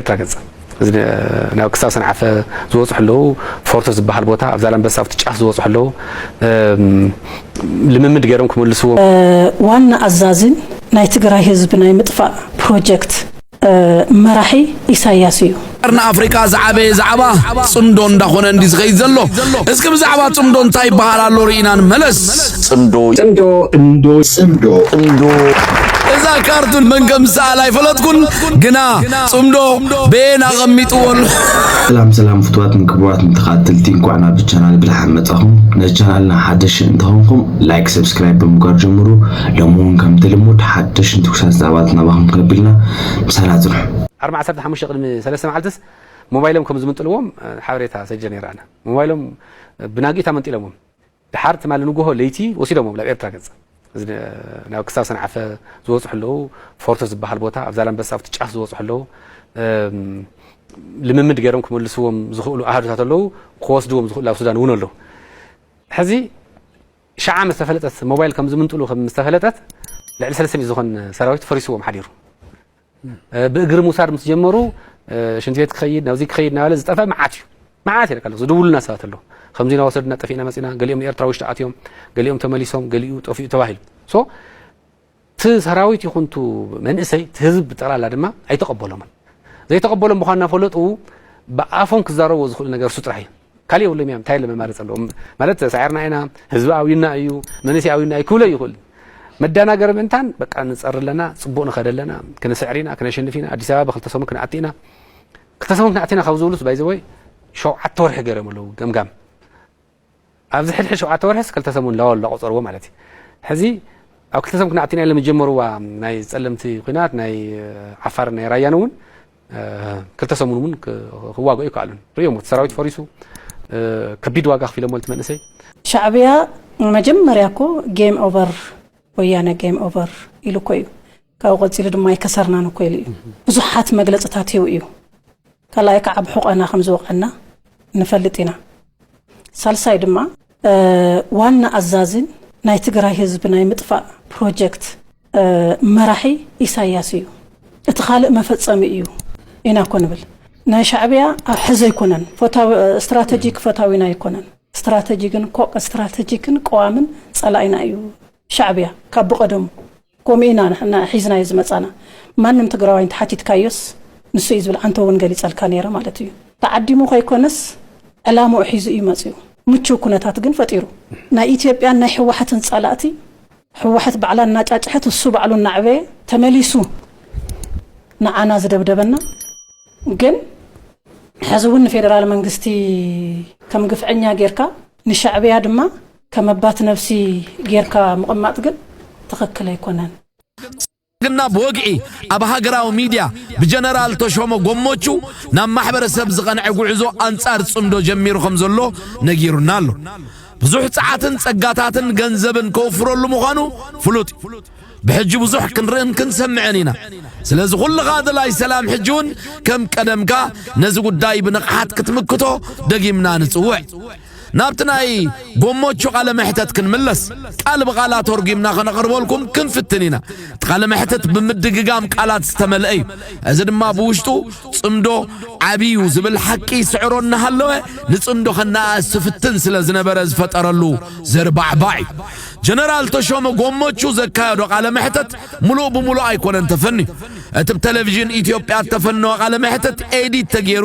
ኤርትራ ገጽ እዚ ናብ ክሳብ ሰንዓፈ ዝወጹ ሕለው ፎርቶ ዝበሃል ቦታ ኣብ ዛላምበሳ ኣብቲ ጫፍ ዝወጹ ሕለው ልምምድ ገይሮም ክመልስዎ ዋና ኣዛዚን ናይ ትግራይ ህዝቢ ናይ ምጥፋእ ፕሮጀክት መራሒ ኢሳያስ እዩ። ቀርኒ ኣፍሪቃ ዝዓበየ ዛዕባ ጽምዶ እንዳኾነ እንዲ ዝኸይድ ዘሎ። እስኪ ብዛዕባ ጽምዶ እንታይ ይበሃል ኣሎ ርኢና ንመለስ። ጽምዶ ጽምዶ ጽምዶ ጽምዶ ጽምዶ እዛ ካርቱን መን ከም ዝሰኣል ኣይፈለጥኩን፣ ግና ጽምዶ በየን ኣቐሚጥዎ ኣሎ። ሰላም ሰላም ፍትዋትን ክቡራትን ተኸታተልቲ እንኳዕ ናብ ቻናል ብድሓን መጻኹም። ንቻናልና ሓደሽ እንተኾንኩም ላይክ፣ ሰብስክራይብ ብምግባር ጀምሩ። ሎሚ እውን ከምቲ ልሙድ ሓደሽን ትኩሳት ዛዕባት ናባኹም ከብልና ምሳና ጽንሑ። ዓርቢ 15 ቅድሚ ሰለስተ መዓልትስ ሞባይሎም ከም ዝምንጥልዎም ሓበሬታ ሰጀ ነይረ ኣነ ሞባይሎም ብናጊታ መንጢሎምዎም ደሓር ትማሊ ንጉሆ ለይቲ ወሲዶሞም ናብ ኤርትራ ገጽ እዚ ናብ ክሳብ ሰንዓፈ ዝወጹ ሕለው ፎርቶ ዝበሃል ቦታ ኣብ ዛላምበሳ ኣብቲ ጫፍ ዝወጹ ሕለው ልምምድ ገይሮም ክመልስዎም ዝኽእሉ ኣሃዱታት ኣለው ክወስድዎም ዝኽእሉ ኣብ ሱዳን እውን ኣለው ሕዚ ሸዓ ምስ ተፈለጠት ሞባይል ከም ዝምንጥሉ ከም ምስ ተፈለጠት ልዕሊ ሰለስተ ሚእቲ ዝኾን ሰራዊት ፈሪስዎም ሓዲሩ ብእግሪ ምውሳድ ምስ ጀመሩ ሽንቲ ቤት ክኸይድ ናብዚ ክኸይድ ናበለ ዝጠፍአ መዓት እዩ መዓት ይረካ ኣለኹ ዝድውሉና ሰባት ኣለዉ ከምዚ እናወሰድና ጠፊእና መፂና ገሊኦም ኤርትራ ውሽጢ ኣትዮም ገሊኦም ተመሊሶም ገሊኡ ጠፊኡ ተባሂሉ ሶ እቲ ሰራዊት ይኹን ቱ መንእሰይ እቲ ህዝቢ ብጠቕላላ ድማ ኣይተቐበሎምን ዘይተቐበሎም ምዃን እናፈለጡ ብኣፎም ክዛረብዎ ዝኽእሉ ነገር እሱ ጥራሕ እዩ ካልእ የብሎም እያ እንታይ ለመማረፂ ኣለዎም ማለት ሳዒርና ኢና ህዝቢ ኣብዩና እዩ መንእሰይ ኣብዩና እዩ ክብሎ ይኽእል መዳናገሪ ምእንታን በቃ ንፀሪ ኣለና ፅቡቅ ንኸደ ኣለና ክንስዕር ኢና ክነሸንፍ ኢና ኣዲስ ኣበባ ብክልተ ሰሙን ክንኣቲ ኢና ክልተ ሰሙን ክንኣቲ ኢና ካብ ዝብሉስ ባይዘወይ ሸውዓተ ወርሒ ገይሮም ኣለዉ ገምጋም ኣብዚ ሕድሕድ ሸውዓተ ወርሒስ ክልተ ሰሙን ላወላ ቆፀርዎ ማለት እዩ ሕዚ ኣብ ክልተ ሰሙን ክንኣቲ ኢና ኢሎም ዝጀመርዋ ናይ ፀለምቲ ኩናት ናይ ዓፋርን ናይ ራያን እውን ክልተ ሰሙን እውን ክዋግኦ ኣይከኣሉን ርእዮሞ እቲ ሰራዊት ፈሪሱ ከቢድ ዋጋ ኣኽፊሎሞ ነቲ መንእሰይ። ሻዕብያ መጀመርያ እኮ ጌም ኦቨር ወያነ ጌም ኦቨር ኢሉ እኮ እዩ ካብኡ ቀፂሉ ድማ ኣይከሰርናን እኮ ኢሉ እዩ ብዙሓት መግለፅታት ሂቡ እዩ ካልኣይ ከዓ ብሑቐና ከምዝወቐዕና ንፈልጥ ኢና ሳልሳይ ድማ ዋና ኣዛዚን ናይ ትግራይ ህዝቢ ናይ ምጥፋእ ፕሮጀክት መራሒ ኢሳያስ እዩ እቲ ካልእ መፈጸሚ እዩ ኢና እኮ ንብል ናይ ሻዕብያ ኣብ ሕዚ ኣይኮነን ስትራተጂክ ፈታዊና ኣይኮነን ስትራተጂክን ስትራተጂክን ቀዋምን ጸላኢና እዩ ሻዕብያ ካብ ብቐደሙ ኮምኡ ኢና ንሕና ሒዝናዮ ዝመጻና ማንም ትግራዋይ እንተሓቲትካዮስ ንሱ እዩ ዝብል ኣንተ ውን ገሊጸልካ ነይረ ማለት እዩ ተዓዲሙ ከይኮነስ ዕላምኡ ሒዙ እዩ መጺኡ ምቹው ኩነታት ግን ፈጢሩ ናይ ኢትዮጵያን ናይ ህወሓትን ጸላእቲ ህወሓት ባዕላ እናጫጭሐት እሱ ባዕሉ እናዕበየ ተመሊሱ ንዓና ዝደብደበና ግን ሐዚ ውን ንፌደራል መንግስቲ ከም ግፍዐኛ ጌርካ ንሻዕብያ ድማ ከመባት ነብሲ ጌርካ ምቕማጥ ግን ትኽክል ኣይኮነን። ብልፅግና ብወግዒ ኣብ ሃገራዊ ሚድያ ብጀነራል ተሾመ ጎሞቹ ናብ ማሕበረሰብ ዝቐንዐ ጉዕዞ ኣንፃር ፅምዶ ጀሚሩ ከምዘሎ ነጊሩና ኣሎ። ብዙሕ ፀዓትን ፀጋታትን ገንዘብን ከውፍረሉ ምዃኑ ፍሉጥ እዩ። ብሕጂ ብዙሕ ክንርእን ክንሰምዕን ኢና። ስለዚ ኩልኻ ደላይ ሰላም ሕጂ እውን ከም ቀደምካ ነዚ ጉዳይ ብንቕሓት ክትምክቶ ደጊምና ንፅውዕ። ናብቲ ናይ ጎሞቹ ቃለ መሕተት ክንምለስ ቃል ብቓል ኣቶርጒምና ከነቕርበልኩም ክንፍትን ኢና። እቲ ቃለ መሕትት ብምድግጋም ቃላት ዝተመልአ እዩ። እዚ ድማ ብውሽጡ ጽምዶ ዓቢዩ ዝብል ሓቂ ይስዕሮ እናሃለወ ንጽምዶ ከነኣእስ ዝፍትን ስለ ዝነበረ ዝፈጠረሉ ዘርባዕባዕ እዩ። ጀነራል ተሾመ ጎሞቹ ዘካየዶ ቃለ መሕተት ምሉእ ብምሉእ ኣይኮነን ተፈንዩ። እቲ ብ ተለቪዥን ኢትዮጵያ እተፈነወ ቃለ መሕትት ኤዲት ተገይሩ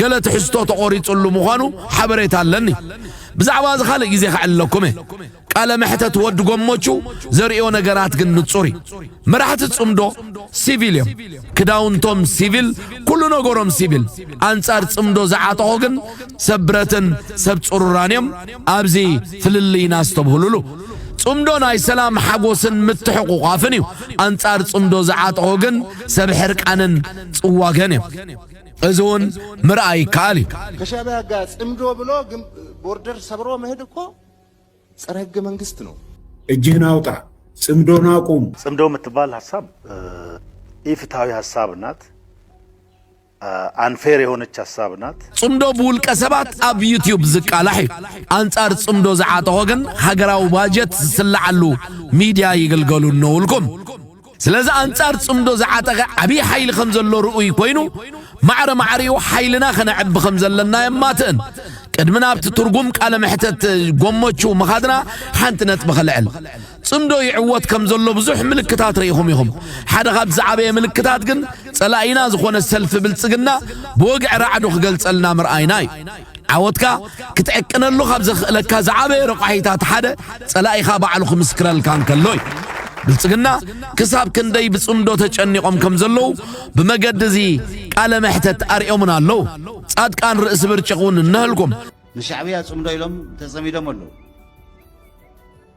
ገለ ትሕዝቶ ተቖሪጽሉ ምዃኑ ሓበሬታ ኣለኒ። ብዛዕባ እዚ ካልእ ግዜ ከዕልለኩም እየ። ቃለ መሕተት ወድ ጎሞቹ ዘርእዮ ነገራት ግን ንጹር እዩ። መራሕቲ ጽምዶ ሲቪል እዮም። ክዳውንቶም ሲቪል ኩሉ ነገሮም ሲቪል። ኣንጻር ጽምዶ ዝዓጠቑ ግን ሰብ ብረትን ሰብ ጽሩራን እዮም። ኣብዚ ፍልልይና ኣስተብህሉሉ። ጽምዶ ናይ ሰላም ሓጎስን ምትሕቑቋፍን እዩ። ኣንጻር ጽምዶ ዝዓጠቑ ግን ሰብ ሕርቃንን ጽዋገን እዮም። እዚ እውን ምርኣይ ይከኣል እዩ። ከሻቢያ ጋር ጽምዶ ብሎ ቦርደር ሰብሮ መሄድ እኮ ጸረ ህገ መንግስት ነው። እጅህን አውጣ ጽምዶን አቁም። ጽምዶ የምትባል ሀሳብ ኢፍትሃዊ ሀሳብ ናት። ኣንፌር የሆነች ሐሳብ ናት። ጽምዶ ብውልቀ ሰባት ኣብ ዩትዩብ ዝቃላሕ እዩ። ኣንጻር ጽምዶ ዝዓጠቖ ግን ሃገራዊ ባጀት ዝስለዓሉ ሚድያ ይግልገሉ እነዉ እልኩም። ስለዚ ኣንጻር ጽምዶ ዝዓጠቐ ዓብዪ ሓይሊ ከም ዘሎ ርኡይ ኮይኑ ማዕረ ማዕሪኡ ሓይልና ከነዕቢ ከም ዘለና የማትእን። ቅድሚ ናብቲ ትርጉም ቃለ መሕተት ጎሞቹ ምኻድና ሓንቲ ነጥቢ ከልዕል። ጽምዶ ይዕወት ከም ዘሎ ብዙሕ ምልክታት ርኢኹም ኢኹም። ሓደ ካብ ዝዓበየ ምልክታት ግን ጸላኢና ዝኾነ ሰልፊ ብልጽግና ብወግዒ ራዕዱ ክገልጸልና ምርኣይና እዩ። ዓወትካ ክትዕቅነሉ ካብ ዘኽእለካ ዝዓበየ ረቋሒታት ሓደ ጸላኢኻ ባዕሉ ክምስክረልካ እንከሎ እዩ። ብልጽግና ክሳብ ክንደይ ብጽምዶ ተጨኒቖም ከም ዘለዉ ብመገዲ እዚ ቃለ መሕተት ኣርእዮምና ኣለዉ። ጻድቃን ርእሲ ብርጭቕ እውን እነሀልኩም። ንሻዕብያ ጽምዶ ኢሎም ተጸሚዶም ኣለዉ።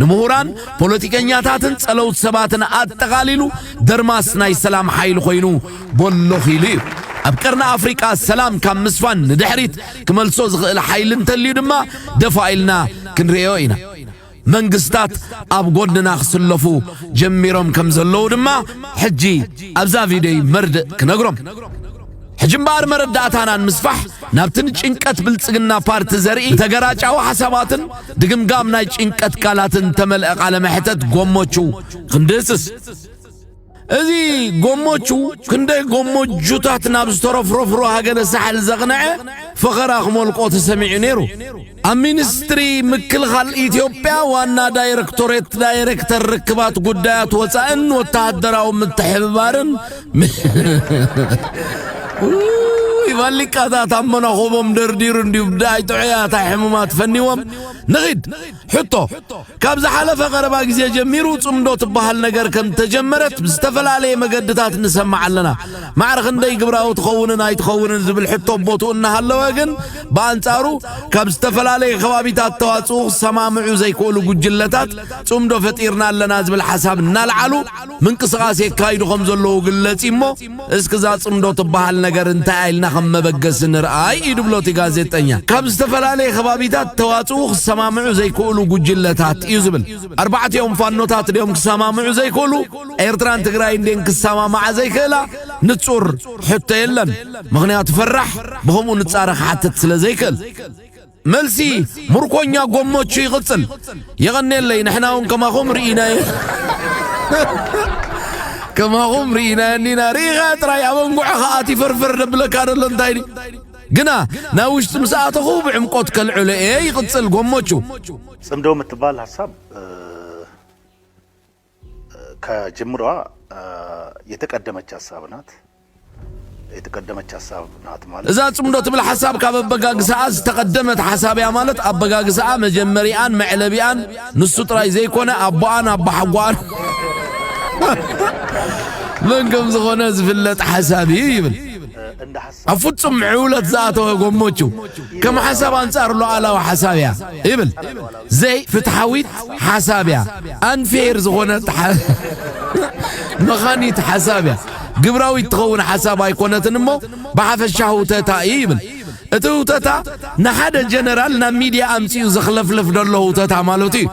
ንምሁራን፣ ፖለቲከኛታትን ጸለውት ሰባትን ኣጠቓሊሉ ደርማስ ናይ ሰላም ሓይሊ ኮይኑ ቦሎ ኺሉ እዩ። ኣብ ቀርኒ ኣፍሪቃ ሰላም ካብ ምስፋን ንድሕሪት ክመልሶ ዝኽእል ሓይሊ እንተልዩ ድማ ደፋእ ኢልና ክንርእዮ ኢና። መንግስታት ኣብ ጎድንና ክስለፉ ጀሚሮም ከምዘለዉ ድማ ሕጂ ኣብዛ ቪድዮይ መርድእ ክነግሮም። ሕጂ እምበኣር መረዳእታና ንምስፋሕ ናብቲ ንጭንቀት ብልጽግና ፓርቲ ዘርኢ ተገራጫዊ ሓሳባትን ድግምጋም ናይ ጭንቀት ቃላትን እተመልአ ቃለ መሕተት ጎሞቹ ክንድህስስ እዚ ጎሞቹ ክንደይ ጎሞጁታት ናብ ዝተረፍረፍሩ ሃገረ ሳሕል ዘቕነዐ ፈኸራ ክመልቆ ተሰሚዑ ነይሩ። ኣብ ሚኒስትሪ ምክልኻል ኢትዮጵያ ዋና ዳይረክቶሬት ዳይረክተር ርክባት ጉዳያት ወፃእን ወታደራዊ ምትሕብባርን ቫሊቃታት ኣብ መናኹቦም ደርዲሩ እንዲዩ ብዳይ ጥዑያት ኣይሕሙማት ፈኒዎም ንኺድ ሕቶ ካብ ዝሓለፈ ቀረባ ግዜ ጀሚሩ ጽምዶ ትበሃል ነገር ከም እተጀመረት ብዝተፈላለየ መገድታት ንሰምዕ ኣለና። ማዕረ ክንደይ ግብራዊ ትኸውንን ኣይትኸውንን ዝብል ሕቶ ኣብ ቦትኡ እናሃለወ ግን ብኣንጻሩ ካብ ዝተፈላለየ ከባቢታት ተዋጽኡ ክሰማምዑ ዘይክእሉ ጉጅለታት ጽምዶ ፈጢርና ኣለና ዝብል ሓሳብ እናልዓሉ ምንቅስቓስ የካይዱ ከም ዘለዉ ግለጺ እሞ እስኪ እዛ ጽምዶ ትበሃል ነገር እንታይ እያ ኢልና ከም መበገሲ ንርኣ እዩ ድብሎ እቲ ጋዜጠኛ። ካብ ዝተፈላለየ ከባቢታት ተዋጽኡ ክሰማምዑ ዘይክእሉ ጉጅለታት እዩ ዝብል። ኣርባዕቲኦም ፋኖታት ድዮም ክሰማምዑ ዘይክእሉ? ኤርትራን ትግራይን ድየን ክሰማማዓ ዘይክእላ? ንጹር ሕቶ የለን። ምኽንያቱ ፈራሕ ብኸምኡ ንጻረ ክሓትት ስለ ዘይክእል። መልሲ ሙርኮኛ ጎሞቹ ይቕጽል። የቐኔለይ ንሕና እውን ከማኹም ርኢናየ ከማኹም ርኢናየ እኒና ርኢኻ ጥራይ ኣብ ኣንጉዕኻ ኣቲ ፈርፈር ደብለካ ደሎ እንታይ ድዩ ግና ናብ ውሽጢ ምስ ኣተኹ ብዕምቆት ከልዕሎ እየ ይቕጽል ጎሞቹ ጽምዶ የምትባል ሀሳብ ከጅምሯ የተቀደመች ሀሳብ ናት። የተቀደመች ሀሳብ ናት ማለት እዛ ጽምዶ ትብል ሓሳብ ካብ ኣበጋግስኣ ዝተቐደመት ሓሳብ እያ ማለት ኣበጋግስኣ መጀመሪኣን መዕለቢኣን ንሱ ጥራይ ዘይኮነ ኣቦኣን ኣቦሓጓኣን መን ከም ዝኾነ ዝፍለጥ ሓሳብ እዩ ይብል። ኣብ ፍጹም ምዕውለት ዝኣተወ ጎሞቹ ከም ሓሳብ ኣንጻር ሉዓላዊ ሓሳብ እያ ይብል። ዘይ ፍትሓዊት ሓሳብ እያ፣ ኣንፌር ዝኾነት መኻኒት ሓሳብ እያ፣ ግብራዊት ትኸውን ሓሳብ ኣይኮነትን እሞ ብሓፈሻ ህውተታ እዩ ይብል። እቲ ህውተታ ንሓደ ጀነራል ናብ ሚድያ ኣምጺኡ ዘኽለፍልፍ ደሎ ህውተታ ማለቱ እዩ።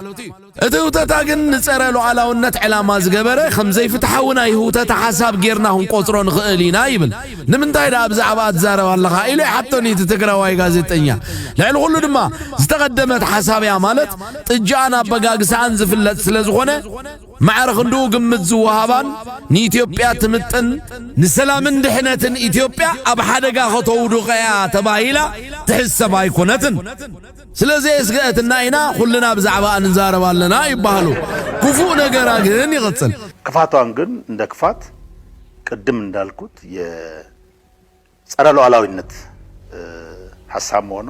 እቲ ህውተታ ግን ንጸረ ሉዓላውነት ዕላማ ዝገበረ ከም ዘይፍትሓዊ ናይ ህውተታ ሓሳብ ጌርና ክንቆጽሮ ንኽእል ኢና ይብል። ንምንታይ ደኣ ብዛዕባኣ ትዛረብ ኣለኻ ኢሉ ይሓቶኒ እቲ ትግራዋይ ጋዜጠኛ። ልዕሊ ኩሉ ድማ ዝተቐደመት ሓሳብ እያ ማለት ጥጅኣን ኣበጋግሳኣን ዝፍለጥ ስለ ዝኾነ ማዕረ ክንድኡ ግምት ዝወሃባን ንኢትዮጵያ ትምጥን ንሰላምን ድሕነትን ኢትዮጵያ ኣብ ሓደጋ ከተውድቕ እያ ተባሂላ ትሕሰብ ኣይኮነትን። ስለ ዘየስገአትና ኢና ኩልና ብዛዕባኣ ንዛረብ ኣለና ይበሃሉ ክፉእ ነገራ ግን ይቅፅል። ክፋቷን ግን እንደ ክፋት ቅድም እንዳልኩት የፀረ ሉዓላዊነት ሐሳብ መሆኗ።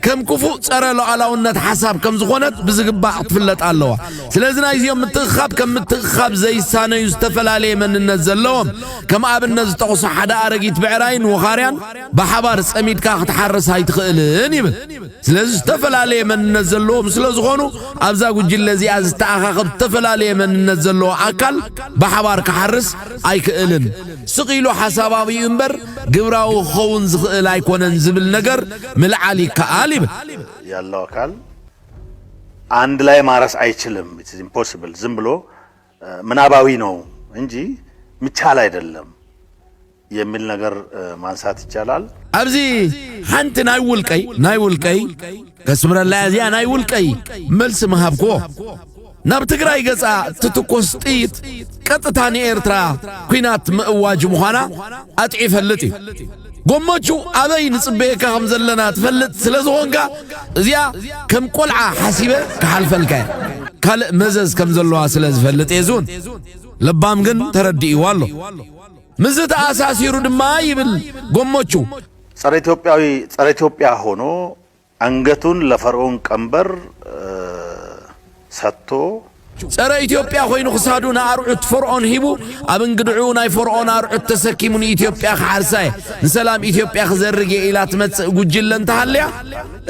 ከም ክፉእ ፀረ ሉዓላውነት ሐሳብ ከም ዝኾነት ብዝግባእ ክትፍለጥ ኣለዋ። ስለዚ ናይዚኦም ምትእኽኻብ ከም ምትእኽኻብ ዘይሳነዩ ዝተፈላለየ መንነት ዘለዎም ከም ኣብነት ዝጠቅሱ ሓደ ኣረጊት ብዕራይን ውኻርያን ብሓባር ፀሚድካ ክትሓርስ ኣይትኽእልን ይብል። ስለዚ ዝተፈላለየ መንነት ዘለዎም ስለ ዝኾኑ ኣብዛ ጉጅለ እዚኣ ዝተኣኻኸብ ዝተፈላለየ መንነት ዘለዎ ኣካል ብሓባር ክሓርስ ኣይክእልን ስቕ ኢሉ ሓሳባዊ እምበር ግብራዊ ክኸውን ዝኽእል ኣይኮነን ዝብል ነገር ምልዓል ይከኣል ይብል ያለው አካል አንድ ላይ ማረስ አይችልም ኢምፖስብል ዝም ብሎ ምናባዊ ነው እንጂ ምቻል ኣይደለም የሚል ነገር ማንሳት ይቻላል። ኣብዚ ሓንቲ ናይ ውልቀይ ናይ ውልቀይ ከስምረላ እዚኣ ናይ ውልቀይ መልሲ ምሃብክዎ ናብ ትግራይ ገጻ ትትኮስ ጥይት ቀጥታ ንኤርትራ ኩናት ምእዋጅ ምዃና ኣጥዒ ይፈልጥ እዩ። ጎመቹ ኣበይ ንጽበየካ ከም ዘለና ትፈልጥ ስለ ዝኾንካ እዚኣ ከም ቆልዓ ሓሲበ ክሓልፈልካ እየ ካልእ መዘዝ ከም ዘለዋ ስለ ዝፈልጥ እየ ዝውን ለባም ግን ተረዲእዋ ኣሎ ምዝ ተኣሳሲሩ ድማ ይብል ጎመቹ ጸረ ኢትዮጵያዊ ጸረ ኢትዮጵያ ሆኖ ኣንገቱን ለፈርኡን ቀንበር ሰጥቶ። ጸረ ኢትዮጵያ ኮይኑ ክሳዱ ንኣርዑት ፎርኦን ሂቡ ኣብ እንግድዕኡ ናይ ፎርኦን ኣርዑት ተሰኪሙ ንኢትዮጵያ ክሓርሳ እየ ንሰላም ኢትዮጵያ ክዘርግ እየ ኢላ ትመጽእ ጉጅለ እንተሃልያ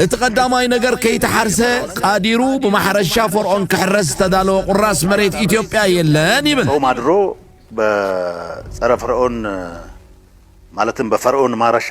እቲ ቀዳማይ ነገር ከይተሓርሰ ቃዲሩ ብማሕረሻ ፎርኦን ክሕረስ ዝተዳለወ ቁራስ መሬት ኢትዮጵያ የለን ይብል። ጾም ኣድሮ በጸረ ፈርኦን ማለትም በፈርኦን ማረሻ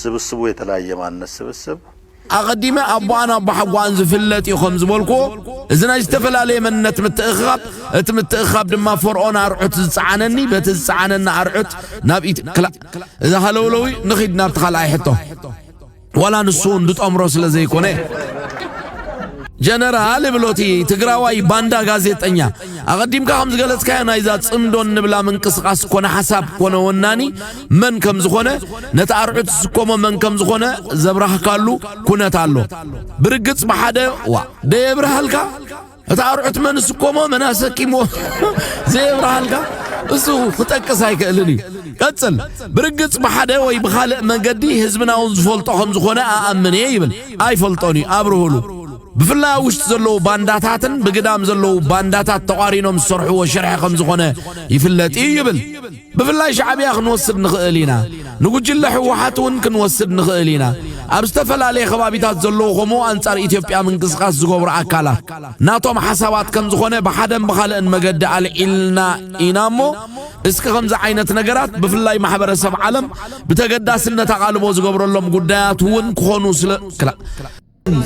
ስብስቡ የተለያየ ማንነት ስብስብ። ኣቐዲመ ኣቦኣን ኣቦሓጎኣን ዝፍለጥ እዩ ከም ዝበልኩዎ፣ እዚ ናይ ዝተፈላለየ መንነት ምትእኽኻብ፣ እቲ ምትእኽኻብ ድማ ፈርኦን ኣርዑት ዝጸዓነኒ በቲ ዝጸዓነኒ ኣርዑት ናብ ኢት ክላ እዚ ሃለውለው'ዩ፣ ንኺድ ናብቲ ካልኣይ ሕቶ ዋላ ንሱ'ውን ዝጠምሮ ስለ ዘይኮነ። ጀነራል ይብሎ እቲ ትግራዋይ ባንዳ ጋዜጠኛ። ኣቐዲምካ ከም ዝገለጽካዮ ናይዛ ጽምዶ እንብላ ምንቅስቓስ ኮነ ሓሳብ ኮነ ወናኒ መን ከም ዝኾነ ነቲ ኣርዑት ዝስከሞ መን ከም ዝኾነ ዘብራህካሉ ኩነት ኣሎ ብርግጽ ብሓደ ዋ ደየብርሃልካ እቲ ኣርዑት መን ዝስከሞ መን ኣሰኪሞ ዘየብርሃልካ እሱ ክጠቅስ ኣይክእልን እዩ ቀጽል ብርግጽ ብሓደ ወይ ብኻልእ መንገዲ ህዝብና እውን ዝፈልጦ ከም ዝኾነ ኣኣምን እየ ይብል ኣይፈልጦን እዩ ኣብርህሉ ብፍላይ ኣብ ውሽጢ ዘለዉ ባንዳታትን ብግዳም ዘለዉ ባንዳታት ተቋሪኖም ዝሰርሕዎ ሽርሒ ከም ዝኾነ ይፍለጥ እዩ ይብል ብፍላይ ሻዕብያ ክንወስድ ንኽእል ኢና፣ ንጉጅለ ህወሓት እውን ክንወስድ ንኽእል ኢና። ኣብ ዝተፈላለየ ከባቢታት ዘለዉ ከምኡ ኣንጻር ኢትዮጵያ ምንቅስቓስ ዝገብሩ ኣካላት ናቶም ሓሳባት ከም ዝኾነ ብሓደን ብኻልእን መገዲ ኣልዒልና ኢና እሞ እስኪ ከምዚ ዓይነት ነገራት ብፍላይ ማሕበረሰብ ዓለም ብተገዳስነት ኣቓልቦ ዝገብረሎም ጉዳያት እውን ክኾኑ ስለ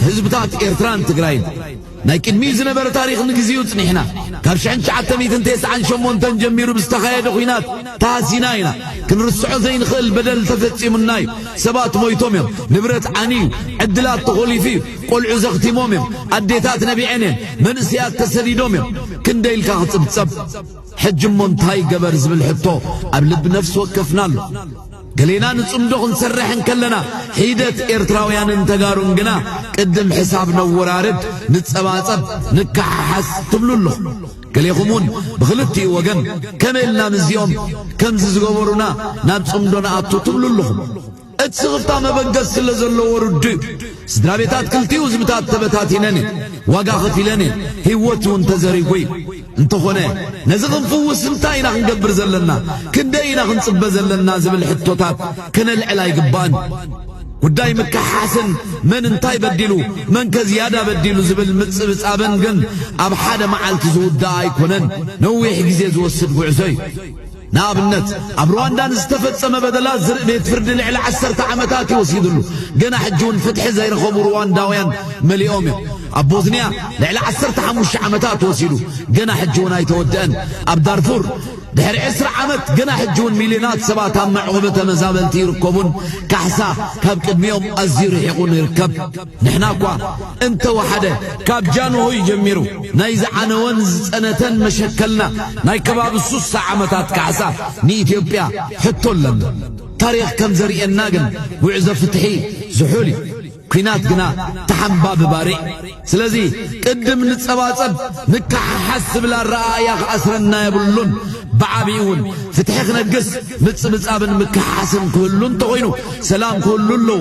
ህዝብታት ኤርትራን ትግራይን ናይ ቅድሚ ዝነበረ ታሪኽ ንግዚኡ ጽኒሕና ካብ 1998 ጀሚሩ ብዝተኻየደ ኹናት ተሃሲና ኢና ክንርስዖ ዘይንኽእል በደል ተፈጺሙና እዩ ሰባት ሞይቶም እዮም ንብረት ዓንዩ ዕድላት ተኾሊፉ እዩ ቆልዑ ዘኽቲሞም እዮም ኣዴታት ነቢዐን እየን መንእሰያት ተሰዲዶም እዮም ክንደይ ኢልካ ክጽብጸብ ሕጂ እሞ እንታይ ገበር ዝብል ሕቶ ኣብ ልቢ ነፍሲ ወከፍና ኣሎ ገሌና ንጽምዶ ክንሰርሕ እንከለና፣ ሒደት ኤርትራውያንን ተጋሩን ግና ቅድም ሕሳብ ነወራርድ፣ ንጸባጸብ፣ ንከሓሓስ ትብሉ ኣለኹም። ገሌኹም እውን ብኽልቲኡ ወገን ከመይ ኢልና ምስዚኦም ከምዚ ዝገበሩና ናብ ጽምዶ ንኣቱ ትብሉ ኣለኹም። እቲ ስኽፍታ መበገሲ ስለ ዘለዎ ርዱእ እዩ። ስድራ ቤታት ክልቲኡ ህዝብታት ተበታቲነን እየን፣ ዋጋ ከፊለን እየን፣ ህይወት እውን ተዘሪጉ እዩ። እንተኾነ ነዚ ክንፍውስ እንታይ ኢና ክንገብር ዘለና፣ ክንደይ ኢና ክንጽበ ዘለና ዝብል ሕቶታት ከነልዕል ኣይግባእን። ጉዳይ ምክሕሓስን መን እንታይ በዲሉ መንከ ዝያዳ በዲሉ ዝብል ምጽብጻብን ግን ኣብ ሓደ መዓልቲ ዝውዳእ ኣይኮነን፣ ነዊሕ ግዜ ዝወስድ ጉዕዞ እዩ። ንኣብነት ኣብ ርዋንዳ ንዝተፈጸመ በደላት ዝርኢ ቤት ፍርዲ ልዕሊ ዓሰርተ ዓመታት እዩ ወሲድሉ። ገና ሕጂ እውን ፍትሒ ዘይረኸቡ ርዋንዳውያን መሊኦም እዮም። ኣብ ቦዝንያ ልዕሊ ዓሰርተ ሓሙሽተ ዓመታት ወሲዱ ገና ሕጂ እውን ኣይተወድአን። ኣብ ዳርፉር ድሕሪ ዕስራ ዓመት ገና ሕጂ እውን ሚልዮናት ሰባት ኣብ መዕቆቢ ተመዛበልቲ ይርከቡን ካሕሳ ካብ ቅድሚኦም ኣዝዩ ርሒቑን ይርከብ። ንሕና እኳ እንተ ወሓደ ካብ ጃንሆይ ጀሚሩ ናይ ዝዓነወን ዝጸነተን መሸከልና ናይ ከባቢ ሱሳ ዓመታት ካሕሳ ንኢትዮጵያ ሕቶ ኣለና። ታሪኽ ከም ዘርእየና ግን ጉዕዞ ፍትሒ ዝሑል እዩ። ኩናት ግና ተሓንባቢ ባርዕ እዩ። ስለዚ ቅድም ንጸባጸብ ንከሓሓዝ ዝብል ኣረኣእያ ክኣስረና የብሉን። ብዓቢኡ እውን ፍትሒ ክነግስ ምጽብጻብን ምክሕሓስን ክህሉ እንተኾይኑ ሰላም ክህሉ ኣለዎ።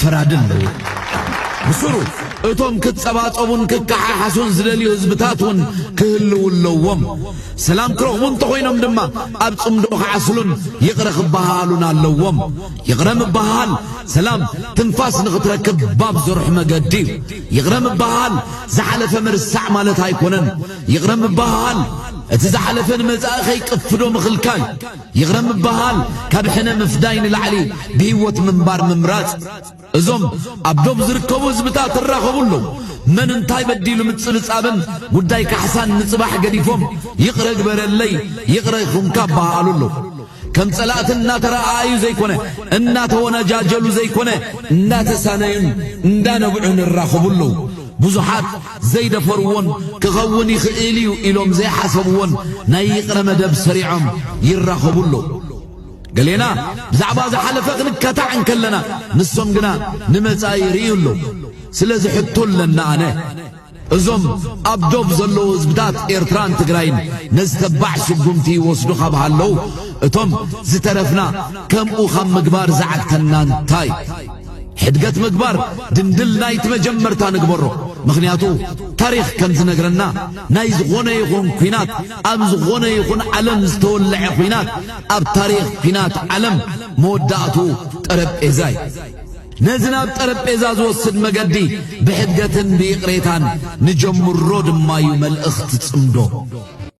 ፈራድን ኣለዎ። ብስሩ እቶም ክጸባጸቡን ክከሓሓሱን ዝደልዩ ህዝብታት እውን ክህልው ኣለዎም። ሰላም ክረኽቡ እንተኾይኖም ድማ ኣብ ጽምዶ ክዓስሉን ይቕረ ክበሃሃሉን ኣለዎም። ይቕረ ምበሃሃል ሰላም ትንፋስ ንኽትረክብ ባብ ዘርሑ መገዲ እዩ። ይቕረ ምበሃሃል ዝሓለፈ ምርሳዕ ማለት ኣይኮነን። ይቕረ ምበሃሃል እቲ ዝሓለፈ ንመጻኢ ከይቅፍዶ ምኽልካል ይቕረ ምብሃል ካብ ሕነ ምፍዳይ ንላዕሊ ብህይወት ምንባር ምምራጽ እዞም ኣብ ዶብ ዝርከቡ ህዝብታት እራኸቡ ኣለዉ። መን እንታይ በዲሉ ምጽብጻብን ጉዳይ ካሕሳን ንጽባሕ ገዲፎም ይቕረ ግበረለይ ይቕረ ይኹንካ እበሃሃሉ ኣለዉ። ከም ጸላእቲ እናተረኣኣዩ ዘይኮነ እናተወነጃጀሉ ዘይኮነ እናተሳነዩን እንዳነብዑን እራኸቡ ኣለዉ። ብዙሓት ዘይደፈርዎን ክኸውን ይኽእል እዩ ኢሎም ዘይሓሰብዎን ናይ ይቕረ መደብ ሰሪዖም ይራኸቡ ኣለዉ። ገሌና ብዛዕባ ዝሓለፈ ክንከታዕ እንከለና ንሶም ግና ንመጻኢ ይርእዩ ኣለዉ። ስለዚ ሕቶ ኣለና ኣነ እዞም ኣብ ዶብ ዘለዉ ህዝብታት ኤርትራን ትግራይን ነዚ ተባዕ ስጉምቲ ይወስዱ ካብ ሃለዉ እቶም ዝተረፍና ከምኡ ካብ ምግባር ዝዓግተና እንታይ ሕድገት ምግባር ድንድል ናይቲ መጀመርታ ንግበሮ ምኽንያቱ ታሪኽ ከም ዝነግረና ናይ ዝኾነ ይኹን ኩናት ኣብ ዝኾነ ይኹን ዓለም ዝተወለዐ ኩናት ኣብ ታሪኽ ኩናት ዓለም መወዳእቱ ጠረጴዛ እዩ ነዚ ናብ ጠረጴዛ ዝወስድ መገዲ ብሕድገትን ብይቕሬታን ንጀምሮ ድማዩ መልእኽቲ ጽምዶ።